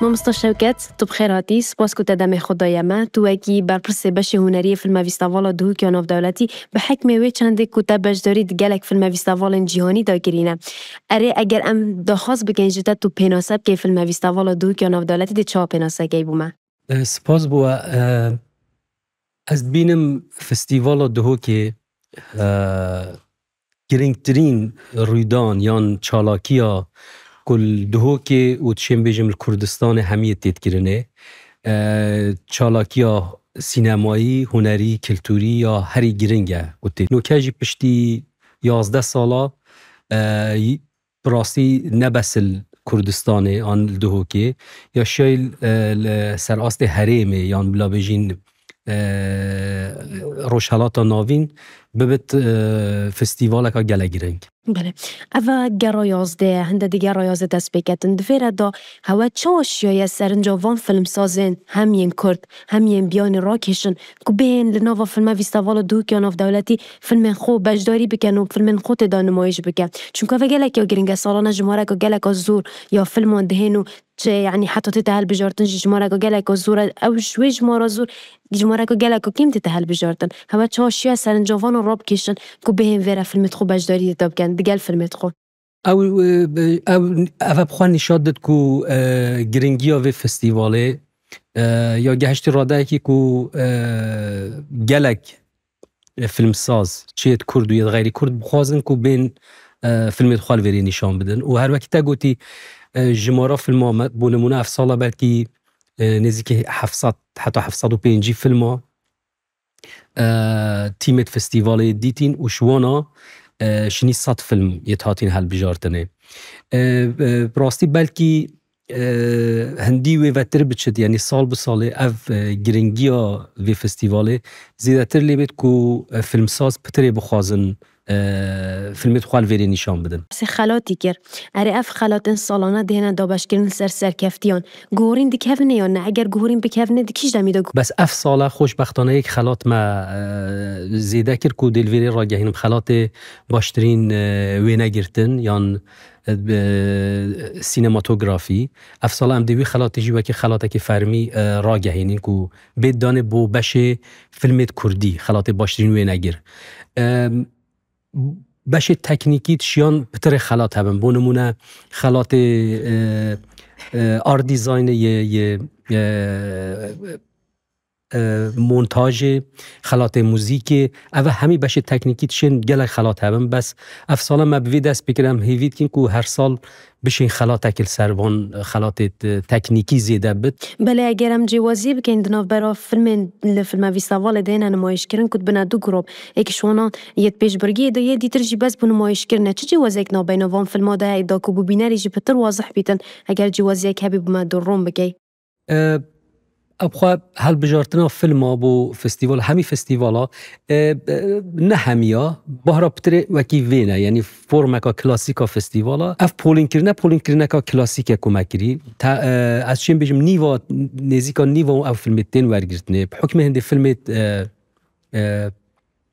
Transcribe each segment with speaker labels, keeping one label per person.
Speaker 1: Mamosta Şewket, tu bi xêr hatî. Spas ku te demê xwe daye me. Tu wekî berpirsê beşê huneriyê Filma Vîstavala Dihûk ya Navdewletî, bi hikmê wê çendê ku te beşdarî di gelek filme vîstavalên cîhanî de kirî ne. Erê, eger em daxwaz bikin ji te tu pênase bikê Filma Vîstavala Dihûk ya Navdewletî dê çawa pênasekê bû me? Spas bû we. Ez dibînim festîvala Duhokê girîngtirîn rûydan yan çalakiya ku li Duhokê û dişêm bêjim li Kurdistanê hemiyê tê dikirinê çalakiya sînemayî, hunerî, kulturî ya herî girîng e ku tê. Nûke jî piştî yazdeh sala Bi rastî ne bes li Kurdistanê an li Duhokê ya şiyayî li ser astê herêmê yan bila bêjîn Rojhilata Navîn bibit festîvaleka gelek girîng. Belê. Ev e gera yazdê ye. Hinde di gera yazdê dest pê ketin. Di vê re de hewa çawa şiyaye serinca van filmsazên hem yên Kurd hem yên biyanî rakêşin ku bêhên li nava filma Vîstaval û Duhuk ya Navdewletî filmên xwe beşdarî bikin û filmên xwe tê de nimayîş bike. Çunka ev e gelek ya girîng e, salane jimareke geleka zor ya filman dihên û çi yanî heta tê de hilbijartin jî jimareke geleka zor e. Ew ji wê jimara zor jimareke geleka kêm tê de hilbijartin. Hewa çawa şiya serincavan a rabikêşin ku bêhên vê re filmê di xwe beşdarî tê de bikin digel filmê di xwe. Ew ev bi xwe nîşan did ku giringiya vê festîvalê ya gehiştî radeyekî ku gelek filmsaz çi yê kurd û yê xeyrî kurd bixwazin ku bên filmê xwe li vêrê nîşan bidin û her wekî te gotî jimara filma me bû nimûne ev sala belkî nêzîkî heft sed heta heft sed û pêncî filma Tîmên festîvalê dîtîn û ji wan a şinî sed fîlm yê hatîn hilbijartinê. Bi rastî belkî hindî wê vetir biçit yanî sal bi salê ev giringiya vê festîvalê zêdetir lê bêt ku fîlmsaz pitirê bixwazin Filmê dixwar li vêrê nîşan bidin. Sê xelatî kir. Erê ev xelatên salane dihêne dabeşkirin li ser serkeftiyan. Guhorîn dikevine yan ne? Eger guhorîn bikevine di kîj demî de? Bes ev sala xoşbextane yek xelat me zêde kir ku dê li vêrê ragehînim xelatê baştirîn wênegirtin yan sînematografî. Ev sala em dê wî xelatê jî wekî xelatekî fermî ragehînin ku Bêt danê bo beşê filmêt kurdî, xelatê baştirîn wê negir. Beşê teknîkî tişiyan pitirê xelat hebin. Bo nimûne xelatê art dîzaynê yê montajê, xelatê muzîkê, ev hemî beşê teknîkî tişên gelek xelat hebin. Bes ev sala me bi vî dest pê kir em hêvî dikin ku her sal Bişê xelatekî li ser van xelatê teknîkî zêde bi. Belê eger em cêwazî bikên di navbera filmên li filmevîsavalê de hêne nimayîşkirin ku dibine du grop, yek ji wanan yê di pêşbirgiyê de ye, dîtir jî bes bo nimayîşkirin e. Çi cêwaziyek navbeyna van filma de heye da ku bi bînerî jî pitir wazih bîtin? Eger cêwaziyek hebî bime dûrrûn bikey. Ev xwe hilbijartina filma bo festîval hemî festîvala ne hemiya Bahra Pitirê wekî vêne yenî formeka klasîka festîvala ev polînkirine polînkirîneka klasîk ye ku me kirî te ez çêm bijim nîva nêzîka nîva ew filmê tên wergirtinê bi hukmê hindê filmê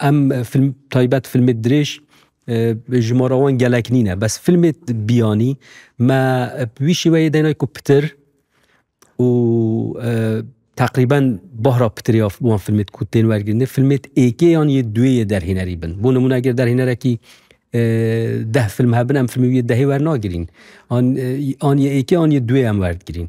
Speaker 1: Em film taybet filmê dirêj ji ma re wan gelek nîne. Bes filmê biyanî me bi wî şêweyê dayîne ku pitir û teqrîben bahra pitirê ya wan filmê ku tên wergirinê filmê êkê yan yê duwê yê derhênerî bin. Bû nimûne eger derhênerekî deh film hebin em filmê wî yê dehê wernagirîn. An yê êkê an yê duwê em werdigirîn.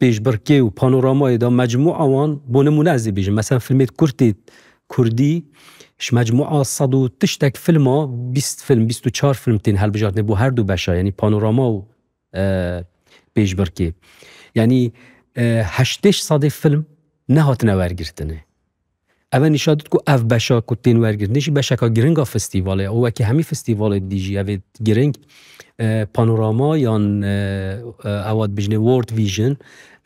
Speaker 1: pêşbirkê û panoramayê de mecmûa wan bo nimûne ez ê bêjim mesela filmê kurtê kurdî ji mecmûa sed û tiştek filma bîst film bîst û çar film tên hilbijartinê bo her du beşa yanî panorama û pêşbirkê yanî heştêş sedê film nehatine wergirtinê. Ev e nîşan did ku ev beşa ku tên wergirtinê jî beşeka giring a festîvalê ye û wekî hemî festîvalê didî jî ev ê giring panorama yan ewa dibijinê World Vision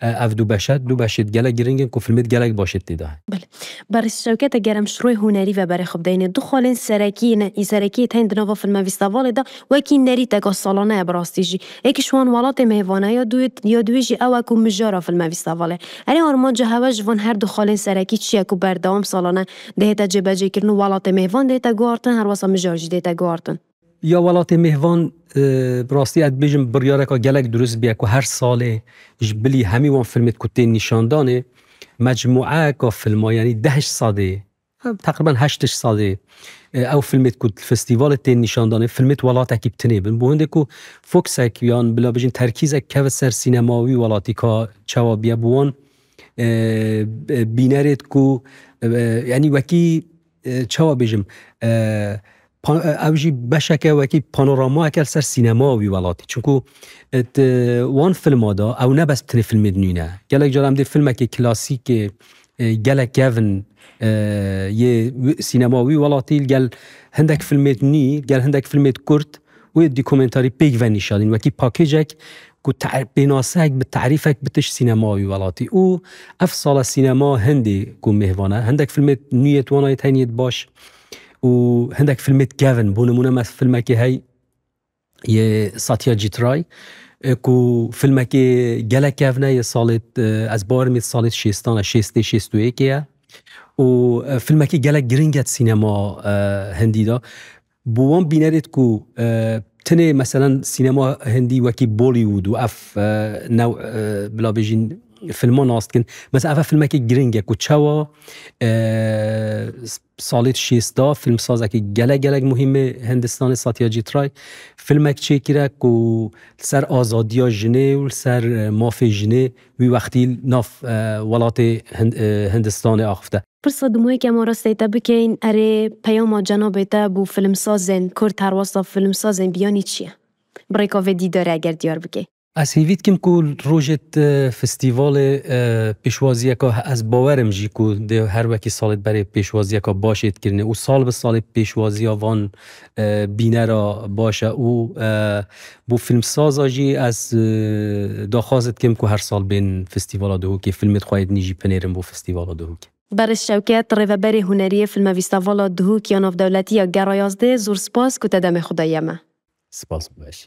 Speaker 1: ev du beş e du beşê gelek giring in ku filmê gelek baş ê têda. Belê. Berê Şewket e gerem şiroyê hunerî ve berê xwe bideyne. Du xalên serekî ne, serekî tên di nava filmevîstavalê de wekî nerîteka salane ye bi rastî jî. Yekî ji wan welatê me yê vana, ya dûyê ya dûyê jî ew e ku mijara filme vîsta vale. Erê armanca hev e ji van her du xalên serekî çi ye ku berdewam salane dihête cêbecêkirin û welatê me yê van dihête guhartin her wasa mijar jî dihête guhartin. Ya welatê me yê van bi rastî ez dibêjim biryareka gelek durist bûye ku her salê ji bilî hemî wan filmê ku tên nîşandanê mecmûeyeka filma yanî deh ji sedê Teqriben heştej sal ê ew filmê ku di festîvalê tên nîşandanê, filmê di welatekî bi tinê bin. Bi hindê ku foksek yan bila bijin terkîzek keve ser sînema wî welatî ka çawa biya bi wan bînerê ku yanî wekî çawa bêjim Ew jî beşeke wekî panoramayeke li ser sînemaya wî welatî. Çimkû di wan filma de ew ne bes tenê filmê dinîne. Gelek cara em dê filmekê klasîkê gelek kevin yê sînemaya wî welatî li gel hindek filmê nî, li gel hindek filmê kurt û yê dîkumentarî pêk ve nîşan dîn. Wekî pakêcek ku pênaseyek bi terîfek bi tişt sînemaya wî welatî. Û ev sala sînemaya hindê ku mêvan e. Hindek filmê nû yê di wan de yê teynî yê di baş. û hindek filmê dikevin. Bû nimûne me filmekê hey yê Satya Cîtray ku filmekê gelek kevne yê salê ez barim yê salê şêstan e şêstê şêst û yêkê ye û filmekê gelek giring e sînema hindî de. Bo wan bînerê ku tinê meselen sînema hindî wekî Bollywood û ev new bila bêjin filman nas dikin. Mesela ev filmekê giring e ku çawa Salîd Şêsta fîlmsazekî gelek gelek muhîmê Hindistanê Satyajît Ray fîlmek çêkire ku li ser azadiya jinê û li ser mafê jinê wî wextî nav welatê Hindistanê axifte. Pirsa di moyekê ma rastî te bikeyn erê peyama cenabê te bo fîlmsazên kurd herwasta fîlmsazên biyanî çi ye? Bi rêka vê dîdarê eger diyar bikê. Ez hêvî dikim ku rojê di festîvalê pêşwaziyeke he ez bawer im jî ku dê her wekî salê di berê pêşwaziyeke başê dikirinê û sal bi salê pêşwaziya van bînera baş e û bo fîlmsaza jî ez daxwaz dikim ku her sal bên festîvala Duhokê fîlmê di xwe yê dinî jî binêrin bo festîvala Duhokê. Beriş Şewket, Rêveberê Hunerî yê Fîlmevîstavala Duhok ya Navdewletî ya Gera Yazdê, Zor spas ku te demê xwe dayî eme. Spas û beşî.